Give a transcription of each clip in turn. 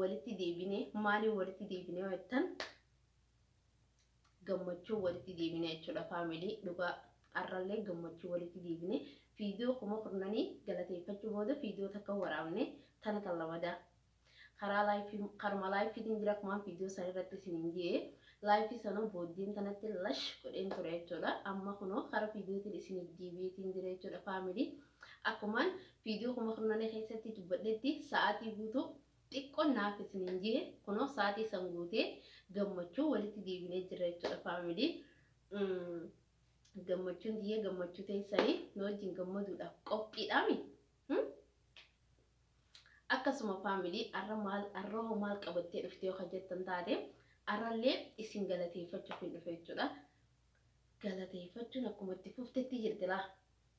walitti deebine maaliin walitti deebine yoo jettan gammachuu walitti deebine jechuudha faamilii dhugaa har'allee gammachuu walitti deebine fiidiyoo kuma kurnanii galateeffachuu booda fiidiyoo takka waraabne tana kan lamadaa karaa laayifii karuma laayifiitiin jira kumaan fiidiyoo san irratti isiniin jee laayifii sanoo booddeen tanatti lash godheen ture jechuudha amma kunoo kara fiidiyootiin isiniif deebi'eetiin jira jechuudha faamilii Akkuman video kuma kurnani keessatti dubbadhetti sa'aatii guutuu xiqqon naaf isinin jehe kunoo sa'aatii san guutee gammachuun walitti deebinee jirra jechuudha family gammachuun tiyya gammachuu teessanii nu wajjin gammaduudhaaf qophiidhaami akkasuma family arra maal arra hoo maal qabattee dhuftee yoo jettan taate arrallee isin galateeffachuuf hin dhufe jechuudha galateeffachuun akkuma itti fuftetti jirti laa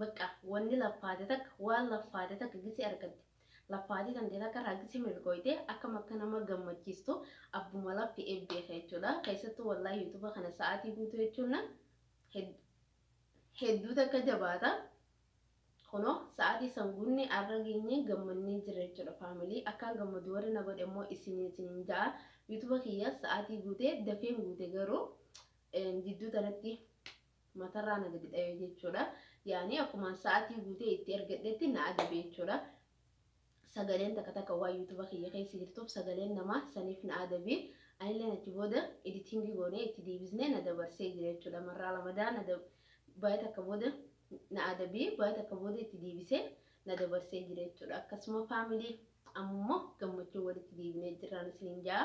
Baqqa wonni laffaate takka waan laffaate takka gisi argatte. Laffaatii tantee takka irraa gisi milkooyte akkam akka nama gammachiistu abbuma lafti ee beeka jechuudha. Keessattuu wallahi yuutuba kana sa'aatii guutuu jechuun na hedduu takka jabaata. Kunoo sa'aatii san guunnee arra geenyee gammannee jirra jechuudha faamilii. Akkaan gammadu warri na godhe immoo isiniin isiniin ja'a. Yuutuba kiyya sa'aatii guutee dafeen guute garuu jidduu tanatti matarraa na gadi dhawe jechuudha. Yaani akkumaan sa'atii guutee itti ergadhetti na adabe jechuudha. Sagaleen takka takka waan yuutuba kiyya keessa jirtuuf sagaleen namaa saniif na adabe. Anilleen achi booda editingii goonee itti deebisnee na dabarsee jira jechuudha. Marraa lamadaa na baay'ee takka booda na adabe baay'ee takka booda itti deebisee na dabarsee jira jechuudha. Akkasuma faamilii ammummoo gammachuu walitti deebinee jirraan isiniin ja'a.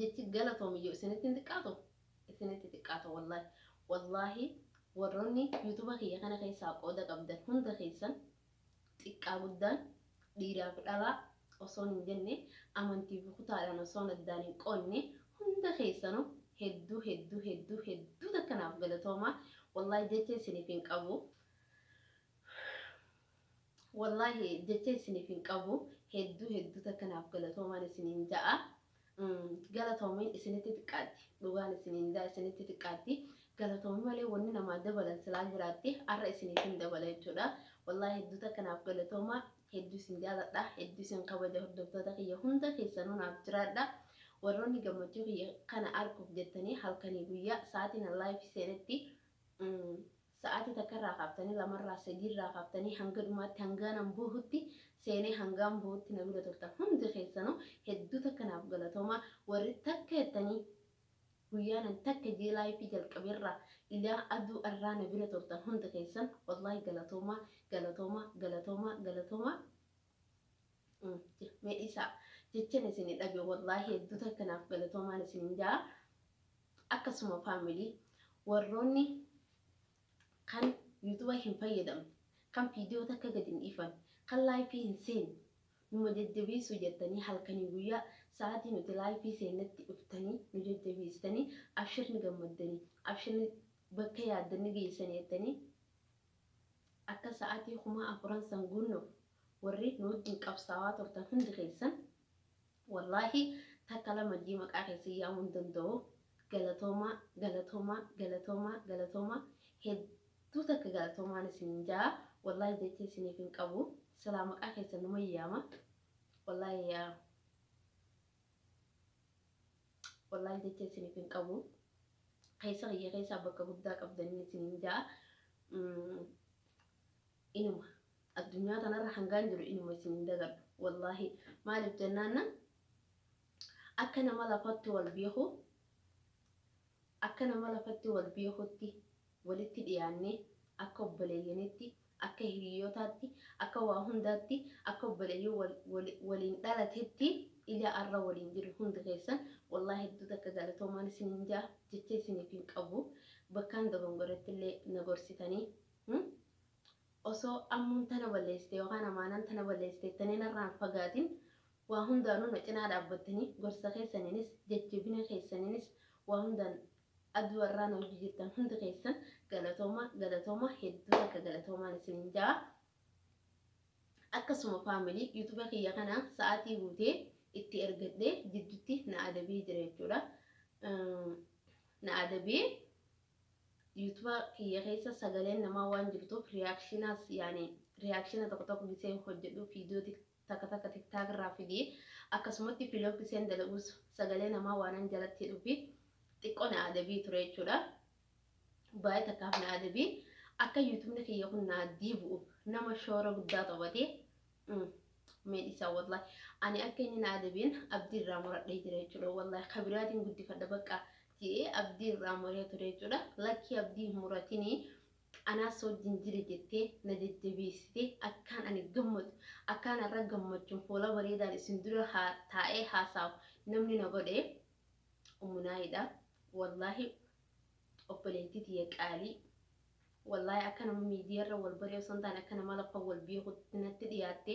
jechi galatoomi yoo isinitti hin xiqqaatu isinitti xiqqaata wallahi wallahi warroonni yuutuba kiyya kana keessaa qooda qabdan hunda keessan xiqqaa guddaan dhiiraaf dhalaa osoon hin jenne amantii fi kutaadhaan osoon addaan hin qoonne hunda keessanu hedduu hedduu hedduu hedduu takkanaaf galatoomaa wallahi jecha isiniif hin qabu Wallaahi jecha isiniif hin qabu hedduu hedduu takka naaf galatoomaan isiniin ja'a galatoomiin isinitti xiqqaatti dhugaan isiniin ja'a isinitti xiqqaatti galatoomii malee wanni namaa dabalan silaa jiraatti har'a isiniif hin dabala jechuudha wallaahi hedduu takka naaf galatoomaa hedduu isin jaaladha hedduu isin kabaja hordoftoota kiyya hunda keessanuu naaf jiraadha warroonni gammachuu kiyya kana arguuf jettanii halkanii guyyaa sa'aatiin allaayif seenetti Sa'aatii takka irraa kaaftanii, lama irraa, sadii irraa kaaftanii hanga dhumaatti hangaan an boohutti seenee hangaan boohutti na bira turtan hundi keessanuu hedduu takka naaf galatoomaa. Warri takka jettanii guyyaan an takka jee live jalqabe irraa ilaa aduu arraa na bira turtan hundi keessan wallahi galatoomaa, galatoomaa, galatoomaa, galatoomaa. Mee dhiisaa. Jechan isin dhabe wallaahi hedduu takka naaf galatoomaan isin jaa. Akkasuma faamilii warroonni kan yuutuba hin fayyadamne kan viidiyoo takka gad hin dhiifan kan laayifii hin seenne numa jajjabeessuu jettanii halkanii guyyaa sa'aatii nuti laayifii seennetti dhuftanii nu jajjabeessitanii abshirni gammaddanii abshirni bakka yaaddanni geessanii jettanii Akka sa'aatii kumaa afuran san guunnuuf warri nu wajjin qabsaawaa turtan hundi keessan wallaahi takka lama jii maqaa keessan yaamuu hin danda'u galatoomaa galatoomaa galatoomaa galatoomaa hedduu takka galatoomaan isiniin ja'a wallaahi jecha isiniif hin qabu silaa maqaa keessan numan yaama wallaahi yaa Wallaahi jecha isiniif hin qabu. Keessa kiyya keessaa bakka guddaa qabdaniin isiniin ja'a. Inuma addunyaa tanarra hangaan jiru inuma isin hin dagadhu. Wallaahi maaliif jennaanna akka nama lafatti wal beeku akka nama lafatti wal beekutti walitti dhiyaannee akka obboleeyyaniitti, akka hiriyootaatti, akka waa hundaatti, akka obboleeyyoo wal wal waliin dhalatetti ila arra waliin jiru hundi keessan wallahi hedduu takka galatoomaan isiniin ja'a jecha isiniif hin qabu bakkaan dogongorettillee na gorsitanii hmm osoo ammuun tana balleessite yookaan amaanaan tana balleessite jettanii narraa hin fagaatin waa hundaanuu na cinaa dhaabbattanii gorsa keessaniinis jajjabina keessaniinis waa hundaan Ad warraa na wajji jirtan hundi keessan galatooma galatooma hedduu takka galatoomaan isinin ja'a. Akkasuma family youtube kiyya kana sa'aatii guutee itti ergadhee jiddutti na adabee jira jechuudha. Na adabee youtube kiyya keessa sagaleen namaa waan jirtuuf reactionas yaani reactiona tokko tokko gisee hojjedhu video Takka takka tiktak irraa fidi akkasumatti vlog iseen dalagus sagalee namaa waanan jalatti hidhufi xiqqo na adabii ture jechuudha baay'ee takkaaf na adabii akka youtubni kiyya kun naa diibu'uuf nama shoora guddaa taphate mee dhisaa wallahi ani akka inni na adabiin abdii irraa muradhee jira jechuudha wallahi kabiraatiin guddifadha bakka je'ee abdii irraa muree ture jechuudha lakkii abdii hin muratinii Anaas wajjin jiri jettee na jajjabeessite, akkaan ani gammadu, akkaan har'a gammachuun fuula bareedaan isin dura haa taa'ee haasa'u namni na godhe Ummu Naayiidha. Wallaahi obboleettii tiyya qaalii. Wallaahi akka nama miidiyaarra wal baree osoo hin taane akka nama lafa wal beekutti natti dhiyaatte.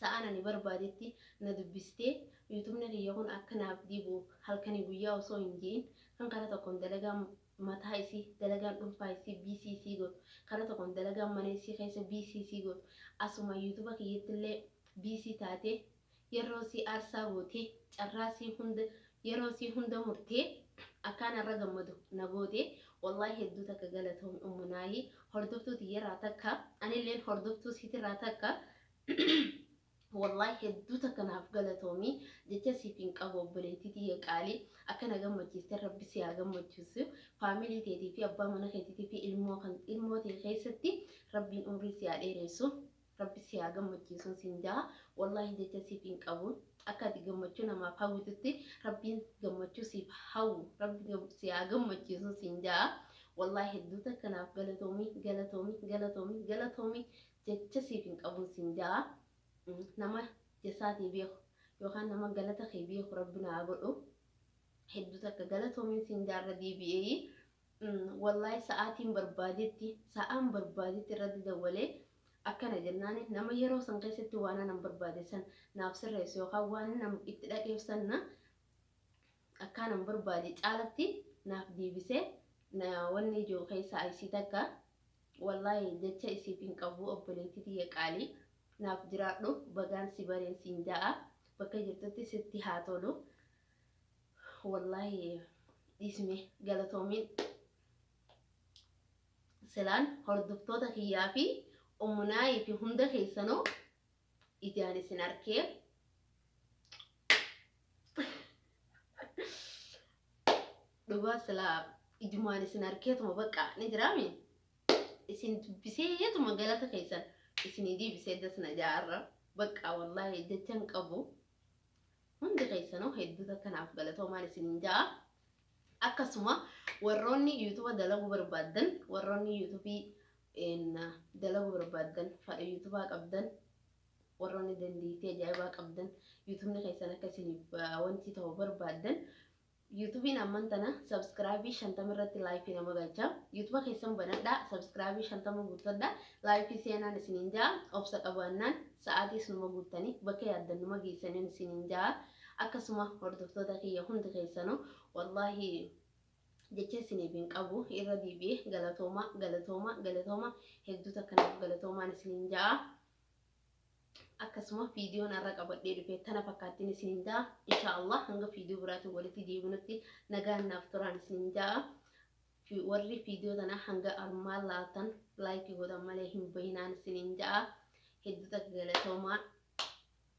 Sa'aan ani barbaadetti na dubbistee Youtubni kiyya kun akka naaf dhiibu halkanii guyyaa osoo hin je'in kan kara tokkoon dalagaan mataa isii, dalagaan dhunfaa isii busy isii gootu, kara tokkoon dalagaan mana isii keessa busy isii gootu, asumaa Youtuba kiyyattillee busy taatee, yerroo isii aarsaa gootee, carraa isii hunda Yeroo isii hunda murtee akkaan arra gammadu na goote wallahi hedduu takka galatoomi ummu naayii hordoftuu tiyyarraa takka anilleen hordoftuu siitirraa takka wallahi hedduu takka naaf galatoomi jecha siif hin qabu obboleettii tiyya qaalii akka na gammachiiste rabbi si haa gammachiisu faamilii teetii fi abbaa mana keetiitii fi ilmoo kan ilmoo tee keessatti rabbiin umrii si haa dheereessu Rabbi si haa gammachiisun sin ja'a wallahi jecha siif hin qabu akka ati gammachuu namaaf hawwitutti rabbiin gammachuu siif hawwu rabbi si haa gammachiisun sin ja'a wallahi hedduu takka naaf galatoomi galatoomi galatoomi galatoomi jecha siif hin qabun sin ja'a nama jasaatii beeku yookaan nama galata kee beeku rabbi naa godhu hedduu takka galatoomiin sin jaarra deebi'ee wallahi sa'aatiin barbaadetti sa'aan barbaadetti irratti dawwalee Akkana jennaan, nama yeroo san keessatti waan anan barbaade san naaf sirreessu yookaan waan nan itti dhaqeef san na akkaanan barbaade caalatti naaf deebisee na wanni ijoo keessaa isii takka wallaahi jecha isiif hin qabu obboleettii tiyya qaalii naaf jiraadhu bagaan si bareen siin ja'a bakka jirtutti sitti haa tolu wallaahi dhiisme galatoomiin. silaan hordoftoota kiyyaa fi ummunaayii fi hunda keessanuu ijaan isin arkee dhugaa silaa ijumaan isin arkeetuma baqqaa ni jiraami isin dubbiseetuma galata keessan isinii deebisee dasna jaarra baqqaa wallaahi jechan qabu hundi keessanuu hedduu takkanaaf galatoomaan isinin ja'a Akkasuma warroonni youtube dalaguu barbaaddan warroonni youtube dalaguu barbaaddan fadha youtube qabdan warroonni dandeettii ajaa'ibaa qabdan youtubni keessan akka isiniif wanti ta'u barbaaddan yuutubiin amman tana sabskraabii shantama irratti laayifii nama galcha yuutuba keessan banadha sabskraabii shantama guuttadha laayifii seenaan isiniin ja'a obsa qabaannaan sa'aatii isinuma guuttanii bakka yaaddan numa geessaniin isiniin ja'a Akkasuma hordoftoota kiyya hundi keessanuu wallahi jecha isiniif hin qabu irra deebi'ee galatooma galatooma galatooma hedduu takka naaf galatoomaan isiniin ja'a. Akkasuma viidiyoon har'a qabadhee dhufe tana fakkaattiin isiniin ja'a. Insha Allah hanga viidiyoo biraatiin walitti deebinutti nagaan naaf turaan isiniin ja'a. Fi- Warri viidiyoo tana hanga armaan laatan laayikii godhan malee hin bahinaan isiniin ja'a. Hedduu takka galatoomaa.